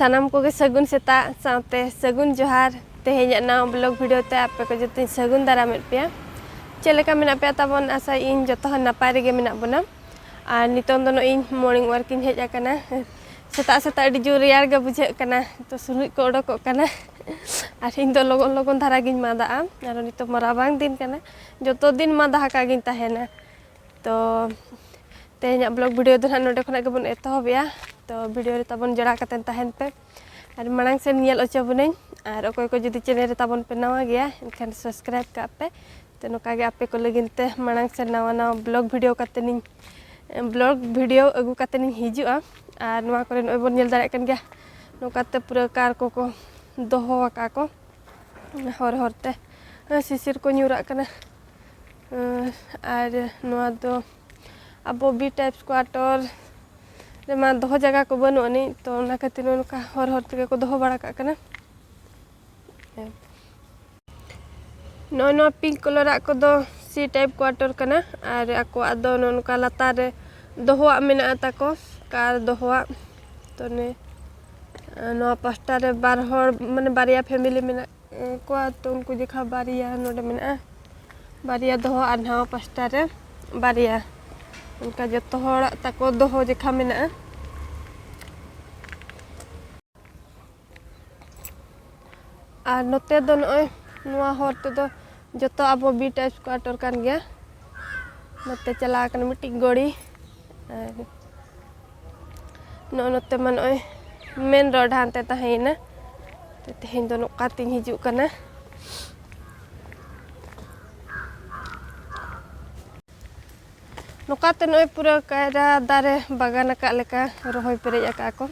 ᱥᱟᱱᱟᱢ ᱠᱚᱜᱮ ᱥᱟᱹᱜᱩᱱ ᱥᱮᱛᱟᱜ ᱥᱟᱶᱛᱮ ᱥᱟᱹᱜᱩᱱ ᱡᱚᱦᱟᱨ ᱛᱮᱦᱮᱧᱟᱜ ᱱᱟᱣᱟ ᱵᱞᱚᱜ ᱵᱷᱤᱰᱤᱭᱳ ᱛᱮ ᱟᱯᱮ ᱠᱚ ᱡᱚᱛᱚᱧ ᱥᱟᱹᱜᱩᱱ ᱫᱟᱨᱟᱢᱮᱫ ᱯᱮᱭᱟ ᱪᱮᱫ ᱞᱮᱠᱟ ᱢᱮᱱᱟᱜ ᱯᱮᱭᱟ ᱛᱟᱵᱚᱱ ᱟᱥᱟ ᱤᱧ ᱡᱚᱛᱚ ᱦᱚᱲ ᱱᱟᱯᱟᱭ ᱨᱮᱜᱮ ᱢᱮᱱᱟᱜ ᱵᱚᱱᱟ ᱟᱨ ᱱᱤᱛᱚᱝ ᱫᱚ ᱱᱚᱜᱼᱚᱭ ᱢᱚᱨᱱᱤᱝ ᱣᱟᱨᱠ ᱤᱧ ᱦᱮᱡ ᱟᱠᱟᱱᱟ ᱥᱮᱛᱟᱜ ᱥᱮᱛᱟᱜ ᱟᱹᱰᱤ ᱡᱳᱨ ᱨᱮᱭᱟᱲ ᱜᱮ ᱵᱩᱡᱷᱟᱹᱜ ᱠᱟᱱᱟ ᱛᱚ ᱥᱩᱱᱩᱡ ᱠᱚ ᱚᱰᱚᱠᱚᱜ ᱠᱟᱱᱟ ᱟᱨ ᱤᱧ ᱫᱚ ᱞᱚᱜᱚᱱ ᱞᱚᱜᱚᱱ ᱫᱷᱟᱨᱟ ᱜᱤᱧ ᱢᱟᱫᱟᱜᱼᱟ ᱟᱨ ᱱᱤᱛᱚᱜ ᱢᱟ ᱨᱟᱵᱟᱝ ᱫᱤᱱ ᱠᱟᱱᱟ ᱡᱚᱛᱚ ᱫᱤᱱ ᱢᱟᱫᱟ ᱦᱟᱠᱟ ᱜᱤᱧ ᱛᱟᱦᱮᱱᱟ ᱛᱚ ᱛᱮᱦᱮᱧᱟᱜ ᱵᱞᱚᱜ ᱵᱷᱤᱰᱤᱭᱳ ᱫᱚ ᱱᱟᱦᱟᱜ ᱱᱚᱰᱮ ᱠᱷᱚᱱᱟᱜ ᱜᱮᱵᱚᱱ ᱮᱛᱚᱦᱚᱵᱮᱜᱼᱟ ᱛᱚ ᱵᱷᱤᱰᱤᱭᱳ ᱨᱮ ᱛᱟᱵᱚᱱ ᱡᱚᱲᱟᱣ ᱠᱟᱛᱮᱱ ᱛᱟᱦᱮᱱ ᱯᱮ ᱟᱨ ᱢᱟᱲᱟᱝ ᱥᱮᱱ ᱧᱮᱞ ᱚᱪᱚ ᱵᱚᱱᱟᱹᱧ ᱟᱨ ᱚᱠᱚᱭ ᱠᱚ ᱡᱩᱫᱤ ᱪᱮᱱᱮᱞ ᱨᱮ ᱛᱟᱵᱚᱱ ᱯᱮ ᱱᱟᱣᱟ ᱜᱮᱭᱟ ᱮᱱᱠᱷᱟᱱ ᱥᱟᱵᱥᱠᱨᱟᱭᱤᱵ ᱠᱟᱜ ᱯᱮ ᱛᱚ ᱱᱚᱝᱠᱟ ᱜᱮ ᱟᱯᱮ ᱠᱚ ᱞᱟᱹᱜᱤᱫ ᱛᱮ ᱢᱟᱲᱟᱝ ᱥᱮᱱ ᱱᱟᱣᱟ ᱱᱟᱣᱟ ᱵᱞᱚᱜ ᱵᱷᱤᱰᱤᱭᱳ ᱠᱟᱛᱮᱱᱤᱧ ᱵᱞᱚᱜ ᱵᱷᱤᱰᱤᱭᱳ ᱟᱹᱜᱩ ᱠᱟᱛᱮᱱᱤᱧ ᱦᱤᱡᱩᱜᱼᱟ ᱟᱨ ᱱᱚᱣᱟ ᱠᱚᱨᱮ ᱱᱚᱜᱼᱚᱭ ᱵᱚᱱ ᱧᱮᱞ ᱫᱟᱲᱮᱭᱟᱜ ᱠᱟᱱ ᱜᱮᱭᱟ ᱱᱚᱝᱠᱟᱛᱮ ᱯᱩᱨᱟᱹ ᱠᱟᱨ ᱠᱚᱠᱚ ᱫᱚᱦᱚ ᱟᱠᱟᱫ ᱠᱚ ᱦᱚᱨ ᱦᱚᱨ ᱛᱮ ᱥᱤᱥᱤᱨ ᱠᱚ ᱧᱩᱨᱟᱜ ᱠᱟᱱᱟ ᱟᱨ ᱱᱚᱣᱟ ᱫᱚ ᱟᱵᱚ ᱵᱤ ᱴᱟᱭᱤᱯᱥ ᱠᱚᱣᱟᱴᱚᱨ ᱨᱮᱢᱟ ᱫᱚᱦᱚ ᱡᱟᱭᱜᱟ ᱠᱚ ᱵᱟᱹᱱᱩᱜ ᱟᱹᱱᱤᱡ ᱛᱚ ᱚᱱᱟ ᱠᱷᱟᱹᱛᱤᱨ ᱱᱚᱝᱠᱟ ᱦᱚᱨ ᱦᱚᱨ ᱛᱮᱜᱮ ᱠᱚ ᱫᱚᱦᱚ ᱵᱟᱲᱟ ᱠᱟᱜ ᱠᱟᱱᱟ ᱱᱚᱜᱼᱚᱭ ᱱᱚᱣᱟ ᱯᱤᱝᱠ ᱠᱚᱞᱚᱨᱟᱜ ᱠᱚᱫᱚ ᱥᱤ ᱴᱟᱭᱤᱯ ᱠᱚᱣᱟᱴᱚᱨ ᱠᱟᱱᱟ ᱟᱨ ᱟᱠᱚᱣᱟᱜ ᱫᱚ ᱱᱚᱝᱠᱟ ᱞᱟᱛᱟᱨ ᱨᱮ ᱫᱚᱦᱚᱣᱟᱜ ᱢᱮᱱᱟᱜᱼᱟ ᱛᱟᱠᱚ ᱠᱟᱨ ᱫᱚᱦᱚᱣᱟᱜ ᱛᱚ ᱱᱤᱭᱟᱹ ᱱᱚᱣᱟ ᱯᱟᱥᱴᱟ ᱨᱮ ᱵᱟᱨ ᱦᱚᱲ ᱢᱟᱱᱮ ᱵᱟᱨᱭᱟ ᱯᱷᱮᱢᱮᱞᱤ ᱢᱮᱱᱟᱜ ᱠᱚᱣᱟ ᱛᱚ ᱩᱱᱠᱩ ᱡᱚᱠᱷᱟ ᱵᱟᱨᱭᱟ ᱱᱚᱰᱮ ᱢᱮᱱᱟᱜᱼᱟ ᱵᱟᱨᱭᱟ ᱫᱚᱦᱚ ᱟᱨ ᱱᱟᱣᱟ ᱯᱟᱥᱴᱟ ᱨᱮ ᱵᱟᱨᱭᱟ ᱚᱱᱠᱟ ᱡᱚᱛᱚ ᱦᱚᱲᱟᱜ ᱛᱟᱠᱚ ᱫᱚᱦᱚ ᱡᱚᱠᱷᱟ ᱢᱮᱱᱟᱜᱼᱟ ᱟᱨ ᱱᱚᱛᱮ ᱫᱚ ᱱᱚᱜᱼᱚᱭ ᱱᱚᱣᱟ ᱦᱚᱨ ᱛᱮᱫᱚ ᱡᱚᱛᱚ ᱟᱵᱚ ᱵᱤ ᱴᱟᱭᱤᱯ ᱠᱚᱣᱟᱴᱚᱨ ᱠᱟᱱ ᱜᱮᱭᱟ ᱱᱚᱛᱮ ᱪᱟᱞᱟᱣ ᱠᱟᱱᱟ ᱢᱤᱫᱴᱤᱡ ᱜᱟᱹᱲᱤ ᱟᱨ ᱱᱚᱜᱼᱚ ᱱᱚᱛᱮ ᱢᱟ ᱱᱚᱜᱼᱚᱭ ᱢᱮᱱ ᱨᱳᱰ ᱦᱟᱱᱛᱮ ᱛᱟᱦᱮᱸᱭᱮᱱᱟ ᱛᱮᱦᱮᱧ ᱫᱚ ᱱᱚᱝᱠᱟ ᱛᱤᱧ ᱦᱤᱡᱩᱜ ᱠᱟᱱᱟ ᱱᱚᱝᱠᱟᱛᱮ ᱱᱚᱜᱼᱚᱭ ᱯᱩᱨᱟᱹ ᱠᱟᱭᱨᱟ ᱫᱟᱨᱮ ᱵᱟᱜᱟᱱ ᱟᱠᱟᱫ ᱞᱮᱠᱟ ᱨᱚᱦᱚᱭ ᱯᱮᱨᱮᱡ ᱟᱠᱟᱫ ᱠᱚ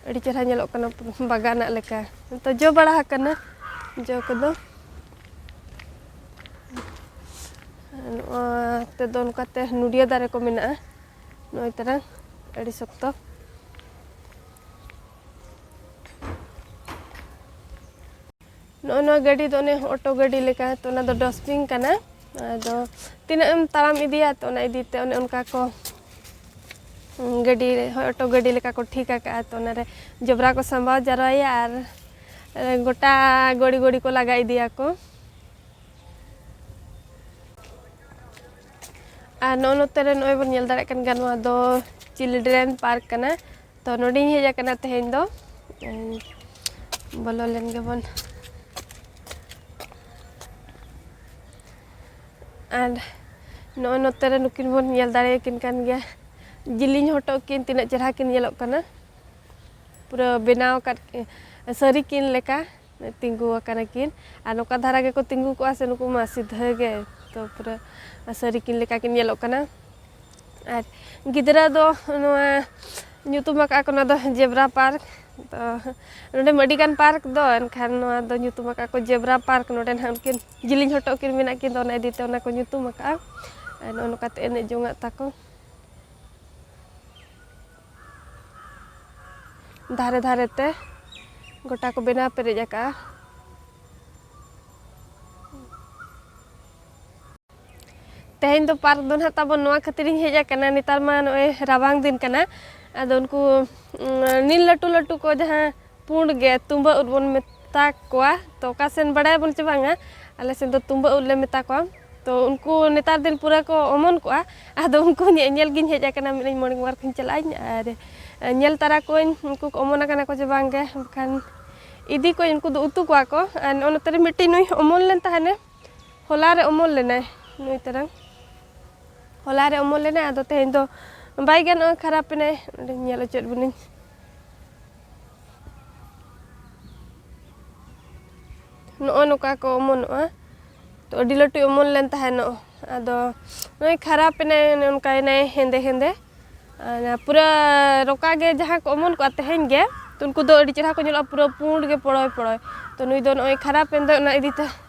ᱟᱹᱰᱤ ᱪᱮᱦᱨᱟ ᱧᱮᱞᱚᱜ ᱠᱟᱱᱟ ᱵᱟᱜᱟᱱᱟᱜ ᱞᱮᱠᱟ ᱛᱚ ᱡᱚ ᱵᱟᱲᱟ ᱟᱠᱟᱱᱟ ᱡᱚ ᱠᱚᱫᱚ ᱱᱚᱣᱟ ᱛᱮᱫᱚ ᱱᱚᱝᱠᱟᱛᱮ ᱱᱩᱰᱤᱭᱟᱹ ᱫᱟᱨᱮ ᱠᱚ ᱢᱮᱱᱟᱜᱼᱟ ᱱᱚᱜᱼᱚᱭ ᱛᱟᱨᱟᱝ ᱟᱹᱰᱤ ᱥᱚᱠᱛᱚ ᱱᱚᱜᱼᱚᱭ ᱱᱚᱣᱟ ᱜᱟᱹᱰᱤ ᱫᱚ ᱚᱱᱮ ᱚᱴᱳ ᱜᱟᱹᱰᱤ ᱞᱮᱠᱟ ᱛᱚ ᱚᱱᱟ ᱫᱚ ᱰᱚᱥᱴᱵᱤᱱ ᱠᱟᱱᱟ ᱟᱫᱚ ᱛᱤᱱᱟᱹᱜ ᱮᱢ ᱛᱟᱲᱟᱢ ᱤᱫᱤᱭᱟ ᱛᱚ ᱚᱱᱟ ᱤᱫᱤ ᱛᱮ ᱚᱱᱮ ᱚᱱᱠᱟ ᱠᱚ ᱜᱟᱹᱰᱤ ᱨᱮ ᱦᱳᱭ ᱚᱴᱳ ᱜᱟᱹᱰᱤ ᱞᱮᱠᱟ ᱠᱚ ᱴᱷᱤᱠ ᱟᱠᱟᱫᱼᱟ ᱛᱚ ᱚᱱᱟᱨᱮ ᱡᱚᱵᱽᱨᱟ ᱠᱚ ᱥᱟᱢᱵᱟᱣ ᱡᱟᱣᱨᱟᱭᱟ ᱟᱨ ᱜᱚᱴᱟ ᱜᱚᱲᱤ ᱜᱚᱲᱤ ᱠᱚ ᱞᱟᱜᱟ ᱤᱫᱤᱭᱟᱠᱚ ᱟᱨ ᱱᱚᱜᱼᱚ ᱱᱚᱛᱮ ᱨᱮ ᱱᱚᱜᱼᱚᱭ ᱵᱚᱱ ᱧᱮᱞ ᱫᱟᱲᱮᱭᱟᱜ ᱠᱟᱱ ᱜᱮᱭᱟ ᱱᱚᱣᱟ ᱫᱚ ᱪᱤᱞᱰᱨᱮᱱ ᱯᱟᱨᱠ ᱠᱟᱱᱟ ᱛᱚ ᱱᱚᱰᱮᱧ ᱦᱮᱡ ᱟᱠᱟᱱᱟ ᱛᱮᱦᱮᱧ ᱫᱚ ᱵᱚᱞᱚ ᱞᱮᱱ ᱜᱮᱵᱚᱱ ᱟᱨ ᱱᱚᱜᱼᱚᱭ ᱱᱚᱛᱮ ᱨᱮ ᱱᱩᱠᱤᱱ ᱵᱚᱱ ᱧᱮᱞ ᱫᱟᱲᱮᱭᱟᱠᱤᱱ ᱠᱟᱱ ᱜᱮᱭᱟ ᱡᱤᱞᱤᱧ ᱦᱚᱴᱚᱜ ᱠᱤᱱ ᱛᱤᱱᱟᱹᱜ ᱪᱮᱦᱨᱟ ᱠᱤᱱ ᱧᱮᱞᱚᱜ ᱠᱟᱱᱟ ᱯᱩᱨᱟᱹ ᱵᱮᱱᱟᱣ ᱟᱠᱟᱫ ᱥᱟᱹᱨᱤ ᱠᱤᱱ ᱞᱮᱠᱟ ᱛᱤᱸᱜᱩ ᱟᱠᱟᱱᱟ ᱠᱤᱱ ᱟᱨ ᱱᱚᱝᱠᱟ ᱫᱷᱟᱨᱟ ᱜᱮᱠᱚ ᱛᱤᱸᱜᱩ ᱠᱚᱜᱼᱟ ᱥᱮ ᱱᱩᱠᱩ ᱢᱟ ᱥᱤᱫᱷᱟᱹ ᱜᱮ ᱛᱚ ᱯᱩᱨᱟᱹ ᱥᱟᱹᱨᱤ ᱠᱤᱱ ᱞᱮᱠᱟ ᱠᱤᱱ ᱧᱮᱞᱚᱜ ᱠᱟᱱᱟ ᱟᱨ ᱜᱤᱫᱽᱨᱟᱹ ᱫᱚ ᱱᱚᱣᱟ ᱧᱩᱛᱩᱢ ᱟᱠᱟᱫᱼᱟ ᱠᱚ ᱱᱚᱣᱟ ᱫᱚ ᱡᱮᱵᱽᱨᱟ ᱯᱟᱨᱠ ᱛᱚ ᱱᱚᱰᱮ ᱢᱟ ᱟᱹᱰᱤᱜᱟᱱ ᱯᱟᱨᱠ ᱫᱚ ᱮᱱᱠᱷᱟᱱ ᱱᱚᱣᱟ ᱫᱚ ᱧᱩᱛᱩᱢ ᱟᱠᱟᱫᱼᱟ ᱠᱚ ᱡᱮᱵᱽᱨᱟ ᱯᱟᱨᱠ ᱱᱚᱰᱮ ᱱᱟᱦᱟᱜ ᱩᱱᱠᱤᱱ ᱡᱤᱞᱤᱧ ᱦᱚᱴᱚᱜ ᱠᱤᱱ ᱢᱮᱱᱟᱜ ᱠᱤᱱ ᱫᱚ ᱚᱱᱟ ᱤᱫᱤ ᱛᱮ ᱚᱱᱟ ᱠᱚ ᱧᱩᱛᱩᱢ ᱟᱠᱟᱫᱼᱟ ᱟᱨ ᱱᱚᱜᱼᱚ ᱱᱚᱝᱠᱟᱛᱮ ᱮᱱᱮᱡ ᱡᱚᱝᱟᱜ ᱛᱟᱠᱚ ᱫᱷᱟᱨᱮ ᱫᱷᱟᱨᱮ ᱛᱮ ᱜᱚᱴᱟ ᱠᱚ ᱵᱮᱱᱟᱣ ᱯᱮᱨᱮᱡ ᱟᱠᱟᱜᱼᱟ ᱛᱮᱦᱮᱧ ᱫᱚ ᱯᱟᱨᱠ ᱫᱚ ᱱᱟᱦᱟᱜ ᱛᱟᱵᱚᱱ ᱱᱚᱣᱟ ᱠᱷᱟᱹᱛᱤᱨᱤᱧ ᱦᱮᱡ ᱟᱠᱟᱱᱟ ᱱᱮᱛᱟᱨ ᱢᱟ ᱱᱚᱜᱼᱚᱭ ᱨᱟᱵᱟᱝ ᱫᱤᱱ ᱠᱟᱱᱟ ᱟᱫᱚ ᱩᱱᱠᱩ ᱱᱤᱞ ᱞᱟᱹᱴᱩ ᱞᱟᱹᱴᱩ ᱠᱚ ᱡᱟᱦᱟᱸ ᱯᱩᱸᱰ ᱜᱮ ᱛᱩᱢᱵᱟᱹ ᱩᱫ ᱵᱚᱱ ᱢᱮᱛᱟ ᱠᱚᱣᱟ ᱛᱚ ᱚᱠᱟ ᱥᱮᱱ ᱵᱟᱲᱟᱭ ᱵᱚᱱ ᱪᱮ ᱵᱟᱝᱟ ᱟᱞᱮ ᱥᱮᱱ ᱫᱚ ᱛᱩᱢᱵᱟᱹ ᱩᱫ ᱞᱮ ᱢᱮᱛᱟ ᱠᱚᱣᱟ ᱛᱚ ᱩᱱᱠᱩ ᱱᱮᱛᱟᱨ ᱫᱤᱱ ᱯᱩᱨᱟᱹ ᱠᱚ ᱚᱢᱚᱱ ᱠᱚᱜᱼᱟ ᱟᱫᱚ ᱩᱱᱠᱩ ᱧᱮᱧᱮᱞ ᱜᱤᱧ ᱦᱮᱡ ᱟᱠᱟᱱᱟ ᱢᱮᱱᱮᱫ ᱟᱹᱧ ᱢᱚᱬᱮ ᱢᱚᱬᱮ ᱠᱷᱚᱱ ᱪᱟᱞᱟᱜ ᱟᱹᱧ ᱟᱨ ᱧᱮᱞ ᱛᱟᱨᱟ ᱠᱚᱣᱟᱹᱧ ᱩᱱᱠᱩ ᱠᱚ ᱚᱢᱚᱱ ᱟᱠᱟᱱᱟ ᱠᱚ ᱪᱮ ᱵᱟᱝ ᱜᱮ ᱮᱱᱠᱷᱟᱱ ᱤᱫᱤ ᱠᱚᱣᱟᱹᱧ ᱩᱱᱠᱩ ᱫᱚ ᱩᱛᱩ ᱠᱚᱣᱟ ᱠᱚ ᱟᱨ ᱱᱚᱜᱼᱚ ᱱᱚᱛᱮ ᱨᱮ ᱢᱤᱫᱴᱤᱡ ᱱᱩᱭ ᱚᱢᱚᱱ ᱞᱮᱱ ᱛᱟᱦᱮᱱᱮ ᱦᱚᱞᱟ ᱨᱮ ᱚᱢᱚᱱ ᱞᱮᱱᱟᱭ ᱱᱩᱭ ᱛᱟᱨᱟᱝ ᱦᱚᱞᱟ ᱨᱮ ᱚᱢᱚᱱ ᱞᱮᱱᱟᱭ ᱟᱫᱚ ᱛᱮᱦᱮᱧ ᱫᱚ ᱵᱟᱭ ᱜᱟᱱᱚᱜᱼᱟ ᱠᱷᱟᱨᱟᱯ ᱮᱱᱟᱭ ᱚᱸᱰᱮᱧ ᱧᱮᱞ ᱦᱚᱪᱚᱭᱮᱫ ᱵᱚᱱᱟᱹᱧ ᱱᱚᱜᱼᱚ ᱱᱚᱝᱠᱟ ᱠᱚ ᱚᱢᱚᱱᱚᱜᱼᱟ ᱛᱚ ᱟᱹᱰᱤ ᱞᱟᱹᱴᱩᱭ ᱚᱢᱚᱱ ᱞᱮᱱ ᱛᱟᱦᱮᱱᱚᱜ ᱟᱫᱚ ᱱᱚᱜᱼᱚᱭ ᱠᱷᱟᱨᱟᱯ ᱮᱱᱟᱭ ᱚᱱᱮ ᱚᱱᱠᱟᱭᱮᱱᱟᱭ ᱦᱮᱸᱫᱮ ᱦᱮᱸᱫᱮ ᱯᱩᱨᱟᱹ ᱨᱚᱠᱟ ᱜᱮ ᱡᱟᱦᱟᱸ ᱠᱚ ᱚᱢᱚᱱ ᱠᱚᱜᱼᱟ ᱛᱮᱦᱮᱧ ᱜᱮ ᱛᱚ ᱩᱱᱠᱩ ᱫᱚ ᱟᱹᱰᱤ ᱪᱮᱦᱨᱟ ᱠᱚ ᱧᱮᱞᱚᱜᱼᱟ ᱯᱩᱨᱟᱹ ᱯᱩᱸᱰ ᱜᱮ ᱯᱚᱲᱚᱭ ᱯᱚᱲᱚᱭ ᱛᱚ ᱱᱩᱭ ᱫᱚ ᱱᱚᱜᱼᱚᱭ ᱠᱷᱟᱨᱟᱯᱮᱱ ᱫᱚᱭ ᱚᱱᱟ ᱤᱫᱤ ᱛᱮ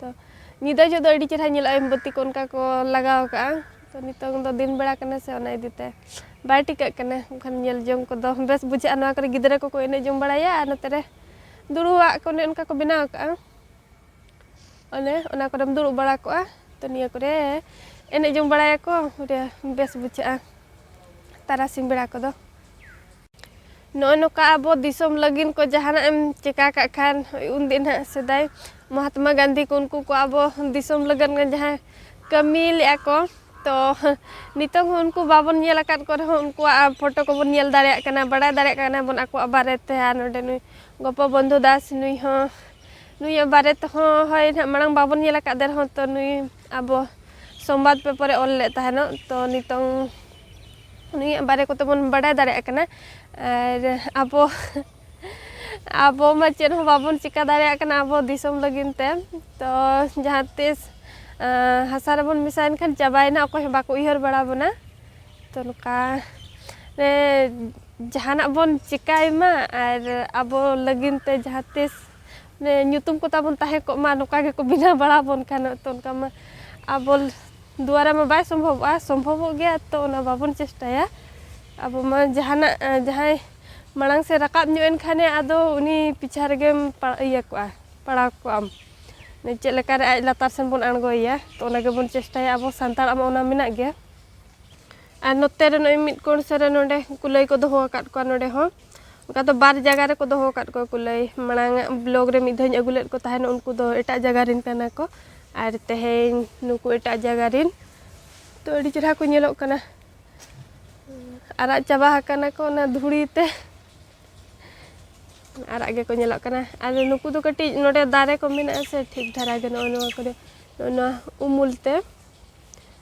ᱛᱚ ᱧᱤᱫᱟᱹ ᱡᱚᱜ ᱫᱚ ᱟᱹᱰᱤ ᱪᱮᱦᱨᱟ ᱧᱮᱞᱚᱜᱼᱟ ᱢᱳᱢᱵᱟᱹᱛᱤ ᱠᱚ ᱚᱱᱠᱟ ᱠᱚ ᱞᱟᱜᱟᱣ ᱠᱟᱜᱼᱟ ᱛᱚ ᱱᱤᱛᱚᱝ ᱫᱚ ᱫᱤᱱ ᱵᱮᱲᱟ ᱠᱟᱱᱟ ᱥᱮ ᱚᱱᱟ ᱤᱫᱤ ᱛᱮ ᱵᱟᱭ ᱴᱤᱠᱟᱹᱜ ᱠᱟᱱᱟ ᱮᱱᱠᱷᱟᱱ ᱧᱮᱞ ᱡᱚᱝ ᱠᱚᱫᱚ ᱵᱮᱥ ᱵᱩᱡᱷᱟᱹᱜᱼᱟ ᱱᱚᱣᱟ ᱠᱚᱨᱮ ᱜᱤᱫᱽᱨᱟᱹ ᱠᱚᱠᱚ ᱮᱱᱮᱡ ᱡᱚᱝ ᱵᱟᱲᱟᱭᱟ ᱟᱨ ᱱᱚᱛᱮ ᱨᱮ ᱫᱩᱲᱩᱵᱟᱜ ᱠᱚ ᱚᱱᱮ ᱚᱱᱠᱟ ᱠᱚ ᱵᱮᱱᱟᱣ ᱠᱟᱜᱼᱟ ᱚᱱᱮ ᱚᱱᱟ ᱠᱚᱨᱮᱢ ᱫᱩᱲᱩᱵ ᱵᱟᱲᱟ ᱠᱚᱜᱼᱟ ᱛᱚ ᱱᱤᱭᱟᱹ ᱠᱚᱨᱮ ᱮᱱᱮᱡ ᱡᱚᱝ ᱵᱟᱲᱟᱭᱟᱠᱚ ᱵᱮᱥ ᱵᱩᱡᱷᱟᱹᱜᱼᱟ ᱛᱟᱨᱟᱥᱤᱧ ᱵᱮᱲᱟ ᱠᱚᱫᱚ ᱱᱚᱜᱼᱚᱭ ᱱᱚᱝᱠᱟ ᱟᱵᱚ ᱫᱤᱥᱚᱢ ᱞᱟᱹᱜᱤᱫ ᱠᱚ ᱡᱟᱦᱟᱱᱟᱜ ᱮᱢ ᱪᱤᱠᱟᱹ ᱠᱟᱜ ᱠᱷᱟᱱ ᱩᱱ ᱫᱤᱱ ᱦᱟᱸᱜ ᱥᱮᱫᱟᱭ ᱢᱚᱦᱟᱛᱢᱟ ᱜᱟᱱᱫᱷᱤ ᱠᱚ ᱩᱱᱠᱩ ᱠᱚ ᱟᱵᱚ ᱫᱤᱥᱚᱢ ᱞᱟᱹᱜᱤᱫ ᱡᱟᱦᱟᱸ ᱠᱟᱹᱢᱤ ᱞᱮᱫᱼᱟ ᱠᱚ ᱛᱚ ᱱᱤᱛᱚᱜ ᱦᱚᱸ ᱩᱱᱠᱩ ᱵᱟᱵᱚᱱ ᱧᱮᱞ ᱟᱠᱟᱫ ᱠᱚ ᱨᱮᱦᱚᱸ ᱩᱱᱠᱩᱣᱟᱜ ᱯᱷᱳᱴᱳ ᱠᱚᱵᱚᱱ ᱧᱮᱞ ᱫᱟᱲᱮᱭᱟᱜ ᱠᱟᱱᱟ ᱵᱟᱲᱟᱭ ᱫᱟᱲᱮᱭᱟᱜ ᱠᱟᱱᱟ ᱵᱚᱱ ᱟᱠᱚᱣᱟᱜ ᱵᱟᱨᱮ ᱛᱮ ᱟᱨ ᱱᱚᱰᱮ ᱱᱩᱭ ᱜᱳᱯᱚᱵᱚᱱᱫᱷᱩ ᱫᱟᱥ ᱱᱩᱭ ᱦᱚᱸ ᱱᱩᱭᱟᱜ ᱵᱟᱨᱮ ᱛᱮᱦᱚᱸ ᱦᱳᱭ ᱦᱟᱸᱜ ᱢᱟᱲᱟᱝ ᱵᱟᱵᱚᱱ ᱧᱮᱞ ᱟᱠᱟᱫᱮ ᱨᱮᱦᱚᱸ ᱛᱚ ᱱᱩᱭ ᱟᱵᱚ ᱥᱚᱢᱵᱟᱫ ᱯᱮᱯᱟᱨ ᱨᱮ ᱚᱞ ᱞᱮᱫ ᱛᱟᱦᱮᱱᱚᱜ ᱛᱚ ᱱᱤᱛᱚᱝ ᱩᱱᱤᱭᱟᱜ ᱵᱟᱨᱮ ᱠᱚᱛᱮ ᱵᱚᱱ ᱵᱟᱰᱟᱭ ᱫᱟᱲᱮᱭᱟᱜ ᱠᱟᱱᱟ ᱟᱨ ᱟᱵᱚ ᱟᱵᱚ ᱢᱟ ᱪᱮᱫ ᱦᱚᱸ ᱵᱟᱵᱚᱱ ᱪᱤᱠᱟᱹ ᱫᱟᱲᱮᱭᱟᱜ ᱠᱟᱱᱟ ᱟᱵᱚ ᱫᱤᱥᱚᱢ ᱞᱟᱹᱜᱤᱫ ᱛᱮ ᱛᱚ ᱡᱟᱦᱟᱸ ᱛᱤᱥ ᱦᱟᱥᱟ ᱨᱮᱵᱚᱱ ᱢᱮᱥᱟᱭᱮᱱ ᱠᱷᱟᱱ ᱪᱟᱵᱟᱭᱮᱱᱟ ᱚᱠᱚᱭ ᱦᱚᱸ ᱵᱟᱠᱚ ᱩᱭᱦᱟᱹᱨ ᱵᱟᱲᱟ ᱵᱚᱱᱟ ᱛᱚ ᱱᱚᱝᱠᱟ ᱡᱟᱦᱟᱱᱟᱜ ᱵᱚᱱ ᱪᱤᱠᱟᱹᱭ ᱢᱟ ᱟᱨ ᱟᱵᱚ ᱞᱟᱹᱜᱤᱫ ᱛᱮ ᱡᱟᱦᱟᱸ ᱛᱤᱥ ᱧᱩᱛᱩᱢ ᱠᱚ ᱛᱟᱵᱚᱱ ᱛᱟᱦᱮᱸ ᱠᱚᱜ ᱢᱟ ᱱᱚᱝᱠᱟ ᱜᱮᱠᱚ ᱵᱮᱱᱟᱣ ᱵᱟᱲᱟ ᱵᱚᱱ ᱠᱷᱟᱱ ᱛᱚ ᱚᱱᱠᱟ ᱢᱟ ᱟᱵᱚ ᱫᱩᱣᱟᱨᱟ ᱢᱟ ᱵᱟᱭ ᱥᱚᱢᱵᱷᱚᱵᱚᱜᱼᱟ ᱥᱚᱢᱵᱷᱚᱵᱚᱜ ᱜᱮᱭᱟ ᱛᱚ ᱚᱱᱟ ᱵᱟᱵᱚᱱ ᱪᱮᱥᱴᱟᱭᱟ ᱟᱵᱚ ᱢᱟ ᱡᱟᱦᱟᱱᱟᱜ ᱡᱟᱦᱟᱸᱭ ᱢᱟᱲᱟᱝ ᱥᱮᱫ ᱨᱟᱠᱟᱵ ᱧᱚᱜ ᱮᱱ ᱠᱷᱟᱱᱮ ᱟᱫᱚ ᱩᱱᱤ ᱯᱤᱪᱷᱟ ᱨᱮᱜᱮᱢ ᱤᱭᱟᱹ ᱠᱚᱜᱼᱟ ᱯᱟᱲᱟᱣ ᱠᱚᱜ ᱟᱢ ᱪᱮᱫ ᱞᱮᱠᱟ ᱨᱮ ᱟᱡ ᱞᱟᱛᱟᱨ ᱥᱮᱱ ᱵᱚᱱ ᱟᱬᱜᱚᱭᱮᱭᱟ ᱛᱚ ᱚᱱᱟ ᱜᱮᱵᱚᱱ ᱪᱮᱥᱴᱟᱭᱟ ᱟᱵᱚ ᱥᱟᱱᱛᱟᱲᱟᱜ ᱢᱟ ᱚᱱᱟ ᱢᱮᱱᱟᱜ ᱜᱮᱭᱟ ᱟᱨ ᱱᱚᱛᱮ ᱨᱮ ᱱᱚᱜᱼᱚᱸᱭ ᱢᱤᱫ ᱠᱚᱬ ᱥᱮᱫ ᱨᱮ ᱱᱚᱰᱮ ᱠᱩᱞᱟᱹᱭ ᱠᱚ ᱫᱚᱦᱚ ᱟᱠᱟᱫ ᱠᱚᱣᱟ ᱱᱚᱰᱮ ᱦᱚᱸ ᱚᱱᱠᱟ ᱫᱚ ᱵᱟᱨ ᱡᱟᱭᱜᱟ ᱨᱮᱠᱚ ᱫᱚᱦᱚ ᱟᱠᱟᱫ ᱠᱚᱣᱟ ᱠᱩᱞᱟᱹᱭ ᱢᱟᱲᱟᱝ ᱟᱜ ᱵᱞᱚᱠ ᱨᱮ ᱢᱤᱫ ᱫᱷᱟᱣ ᱤᱧ ᱟᱹᱜᱩ ᱞᱮᱫ ᱠᱚ ᱛᱟᱦᱮᱱ ᱩᱱᱠᱩ ᱫᱚ ᱮᱴᱟᱜ ᱡᱟᱭᱜᱟ ᱨᱮᱱ ᱠᱟᱱᱟ ᱠᱚ ᱟᱨ ᱛᱮᱦᱮᱧ ᱱᱩᱠᱩ ᱮᱴᱟᱜ ᱡᱟᱭᱜᱟ ᱨᱮᱱ ᱛᱚ ᱟᱹᱰᱤ ᱪᱮᱦᱨᱟ ᱠᱚ ᱧᱮᱞᱚᱜ ᱠᱟᱱᱟ ᱟᱨᱟᱜ ᱪᱟᱵᱟ ᱟᱠᱟᱱᱟ ᱠᱚ ᱚᱱᱟ ᱫᱷᱩᱲᱤ ᱛᱮ ᱟᱨᱟᱜ ᱜᱮᱠᱚ ᱧᱮᱞᱚᱜ ᱠᱟᱱᱟ ᱟᱨ ᱱᱩᱠᱩ ᱫᱚ ᱠᱟᱹᱴᱤᱡ ᱱᱚᱰᱮ ᱫᱟᱨᱮ ᱠᱚ ᱢᱮᱱᱟᱜᱼᱟ ᱥᱮ ᱴᱷᱤᱠ ᱫᱷᱟᱨᱟ ᱜᱮ ᱱᱚᱜᱼᱚ ᱱᱚᱣᱟ ᱠᱚᱨᱮ ᱱᱚᱜᱼᱚ ᱱᱚᱣᱟ ᱩᱢᱩᱞ ᱛᱮ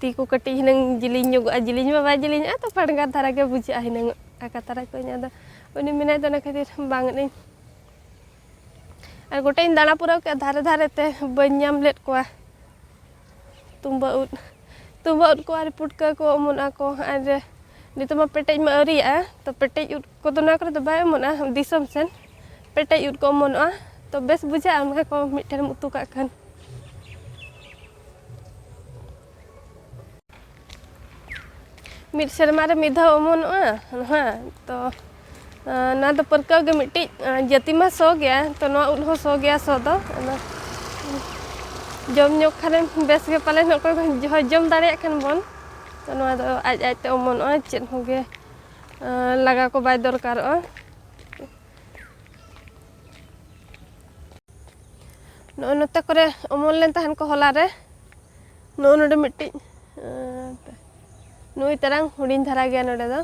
ᱛᱤ ᱠᱚ ᱠᱟᱹᱴᱤᱡ ᱦᱤᱱᱟᱹᱝ ᱡᱤᱞᱤᱧ ᱧᱚᱜᱚᱜᱼᱟ ᱡᱤᱞᱤᱧ ᱢᱟ ᱵᱟᱭ ᱡᱤᱞᱤᱧᱚᱜᱼᱟ ᱛᱚ ᱯᱟᱰᱜᱟᱨ ᱫᱷᱟᱨᱟ ᱜᱮ ᱵᱩᱡᱷᱟᱹᱜᱼᱟ ᱦᱤᱱᱟᱹᱝ ᱟᱠᱟ ᱛᱟᱨᱟ ᱠᱚᱧ ᱟᱫᱚ ᱩᱱᱤ ᱢᱮᱱᱟᱭ ᱛᱮ ᱚᱱᱟ ᱠᱷᱟᱹᱛᱤᱨ ᱵᱟᱝ ᱟᱹᱧ ᱟᱨ ᱜᱚᱴᱟᱧ ᱫᱟᱬᱟ ᱯᱩᱨᱟᱹᱣ ᱠᱮᱫᱼᱟ ᱫᱷᱟᱨᱮ ᱫᱷᱟᱨᱮ ᱛᱮ ᱵᱟᱹᱧ ᱧᱟᱢ ᱞᱮᱫ ᱠᱚᱣᱟ ᱛᱩᱢᱵᱟᱹ ᱩᱫ ᱛᱩᱢᱵᱟᱹ ᱩᱫ ᱠᱚ ᱟᱨ ᱯᱩᱴᱠᱟᱹ ᱠᱚ ᱚᱢᱚᱱᱚᱜᱼᱟ ᱠᱚ ᱟᱨ ᱱᱤᱛᱚᱜ ᱢᱟ ᱯᱮᱴᱮᱡ ᱢᱟ ᱟᱹᱣᱨᱤᱭᱟᱜᱼᱟ ᱛᱚ ᱯᱮᱴᱮᱡ ᱩᱫ ᱠᱚᱫᱚ ᱱᱚᱣᱟ ᱠᱚᱨᱮ ᱫᱚ ᱵᱟᱭ ᱚᱢᱚᱱᱚᱜᱼᱟ ᱫᱤᱥᱚᱢ ᱥᱮᱱ ᱯᱮᱴᱮᱡ ᱩᱫ ᱠᱚ ᱚᱢᱚᱱᱚᱜᱼᱟ ᱛᱚ ᱵᱮᱥ ᱵᱩᱡᱷᱟᱹᱜᱼᱟ ᱚᱱᱟ ᱠᱚ ᱢᱤᱫᱴᱷᱮᱱ ᱮᱢ ᱩᱛᱩ ᱠᱟᱜ ᱠᱷᱟᱱ ᱢᱤᱫ ᱥᱮᱨᱢᱟ ᱨᱮ ᱢᱤᱫ ᱫᱷᱟᱣ ᱚᱢᱚᱱᱚᱜᱼᱟ ᱱᱚᱣᱟ ᱛᱚ ᱱᱚᱣᱟ ᱫᱚ ᱯᱟᱹᱨᱠᱟᱹᱣ ᱜᱮ ᱢᱤᱫᱴᱤᱡ ᱡᱟᱹᱛᱤ ᱢᱟ ᱥᱚ ᱜᱮᱭᱟ ᱛᱚ ᱱᱚᱣᱟ ᱩᱫ ᱦᱚᱸ ᱥᱚ ᱜᱮᱭᱟ ᱥᱚ ᱫᱚ ᱚᱱᱟ ᱡᱚᱢ ᱧᱚᱜ ᱠᱷᱟᱱᱮᱢ ᱵᱮᱥ ᱜᱮ ᱯᱟᱞᱮᱱ ᱚᱠᱚᱭ ᱡᱚᱢ ᱫᱟᱲᱮᱭᱟᱜ ᱠᱷᱟᱱ ᱵᱚᱱ ᱛᱚ ᱱᱚᱣᱟ ᱫᱚ ᱟᱡ ᱟᱡ ᱛᱮ ᱚᱢᱚᱱᱚᱜᱼᱟ ᱪᱮᱫ ᱦᱚᱸᱜᱮ ᱞᱟᱜᱟ ᱠᱚ ᱵᱟᱭ ᱫᱚᱨᱠᱟᱨᱚᱜᱼᱟ ᱱᱚᱜᱼᱚᱭ ᱱᱚᱛᱮ ᱠᱚᱨᱮ ᱚᱢᱚᱱ ᱞᱮᱱ ᱛᱟᱦᱮᱱ ᱠᱚ ᱦᱚᱞᱟ ᱨᱮ ᱱᱚᱜᱼᱚᱭ ᱱᱚᱰᱮ ᱢᱤᱫᱴᱤᱡ ᱱᱩᱭ ᱛᱟᱨᱟᱝ ᱦᱩᱰᱤᱧ ᱫᱷᱟᱨᱟ ᱜᱮᱭᱟ ᱱᱚᱰᱮ ᱫᱚ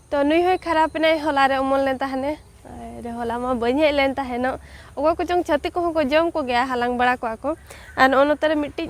ᱛᱚ ᱱᱩᱭ ᱦᱚᱸᱭ ᱠᱷᱟᱨᱟᱯ ᱮᱱᱟᱭ ᱦᱚᱞᱟ ᱨᱮ ᱚᱢᱚᱱ ᱞᱮᱱ ᱛᱟᱦᱮᱱᱮ ᱟᱨ ᱦᱚᱞᱟ ᱢᱟ ᱵᱟᱹᱧ ᱦᱮᱡ ᱞᱮᱱ ᱛᱟᱦᱮᱱᱚᱜ ᱚᱠᱚᱭ ᱠᱚᱪᱚᱝ ᱪᱷᱟᱹᱛᱤᱠ ᱠᱚᱦᱚᱸ ᱠᱚ ᱡᱚᱢ ᱠᱚᱜᱮᱭᱟ ᱦᱟᱞᱟᱝ ᱵᱟᱲᱟ ᱠᱚᱣᱟ ᱠᱚ ᱟᱨ ᱱᱚᱜᱼᱚᱭ ᱱᱚᱛᱮ ᱨᱮ ᱢᱤᱫᱴᱤᱡ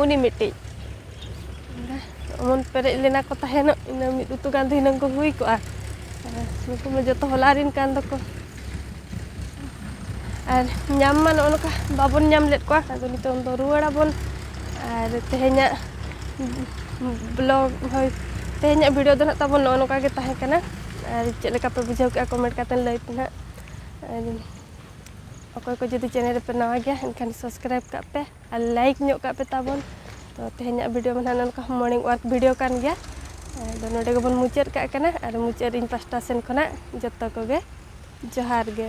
ᱩᱱᱤ ᱢᱤᱫᱴᱤᱡ ᱚᱢᱚᱱ ᱯᱮᱨᱮᱡ ᱞᱮᱱᱟ ᱠᱚ ᱛᱟᱦᱮᱱᱚᱜ ᱤᱱᱟᱹ ᱢᱤᱫ ᱩᱛᱩ ᱜᱟᱱ ᱫᱷᱤᱱᱟᱹᱝ ᱠᱚ ᱦᱩᱭ ᱠᱚᱜᱼᱟ ᱱᱩᱠᱩ ᱢᱟ ᱡᱚᱛᱚ ᱦᱚᱞᱟ ᱨᱤᱱ ᱠᱟᱱ ᱫᱚᱠᱚ ᱟᱨ ᱧᱟᱢ ᱢᱟ ᱱᱚᱜᱼᱚ ᱱᱚᱝᱠᱟ ᱵᱟᱵᱚᱱ ᱧᱟᱢ ᱞᱮᱫ ᱠᱚᱣᱟ ᱟᱫᱚ ᱱᱤᱛᱚᱝ ᱫᱚ ᱨᱩᱣᱟᱹᱲ ᱟᱵᱚᱱ ᱟᱨ ᱛᱮᱦᱮᱧᱟᱜ ᱵᱞᱚᱜ ᱦᱳᱭ ᱛᱮᱦᱮᱧᱟᱜ ᱵᱷᱤᱰᱤᱭᱳ ᱫᱚ ᱱᱟᱦᱟᱜ ᱛᱟᱵᱚᱱ ᱱᱚᱜᱼᱚ ᱱᱚᱝᱠᱟ ᱜᱮ ᱛᱟᱦᱮᱸ ᱠᱟᱱᱟ ᱟᱨ ᱪᱮᱫ ᱞᱮᱠᱟ ᱯᱮ ᱵᱩᱡᱷᱟᱹᱣ ᱠᱮᱜᱼᱟ ᱠᱚᱢᱮᱱᱴ ᱠᱟᱛᱮᱫ ᱞᱟᱹᱭ ᱯᱮ ᱱᱟᱦᱟᱜ ᱟᱨ ᱚᱠᱚᱭ ᱠᱚ ᱡᱩᱫᱤ ᱪᱮᱱᱮᱞ ᱨᱮᱯᱮ ᱱᱟᱣᱟ ᱜᱮᱭᱟ ᱮᱱᱠᱷᱟᱱ ᱥᱟᱵᱥᱠᱨᱟᱭᱤᱵᱽ ᱠᱟᱜ ᱯᱮ ᱟᱨ ᱞᱟᱭᱤᱠ ᱧᱚᱜ ᱠᱟᱜ ᱯᱮ ᱛᱟᱵᱚᱱ ᱛᱚ ᱛᱮᱦᱮᱧᱟᱜ ᱵᱷᱤᱰᱤᱭᱳ ᱢᱟ ᱱᱟᱦᱟᱜ ᱱᱚᱝᱠᱟ ᱢᱚᱨᱱᱤᱝ ᱚᱣᱟᱠ ᱵᱷᱤᱰᱤᱭᱳ ᱠᱟᱱ ᱜᱮᱭᱟ ᱟᱫᱚ ᱱᱚᱰᱮ ᱜᱮᱵᱚᱱ ᱢᱩᱪᱟᱹᱫ ᱠᱟᱜ ᱠᱟᱱᱟ ᱟᱨ ᱢᱩᱪᱟᱹᱫ ᱨᱮ ᱤᱧ ᱯᱟᱥᱴᱟ ᱥᱮᱱ ᱠᱷᱚᱱᱟᱜ ᱡᱚᱛᱚ ᱠᱚᱜᱮ ᱡᱚᱦᱟᱨ ᱜᱮ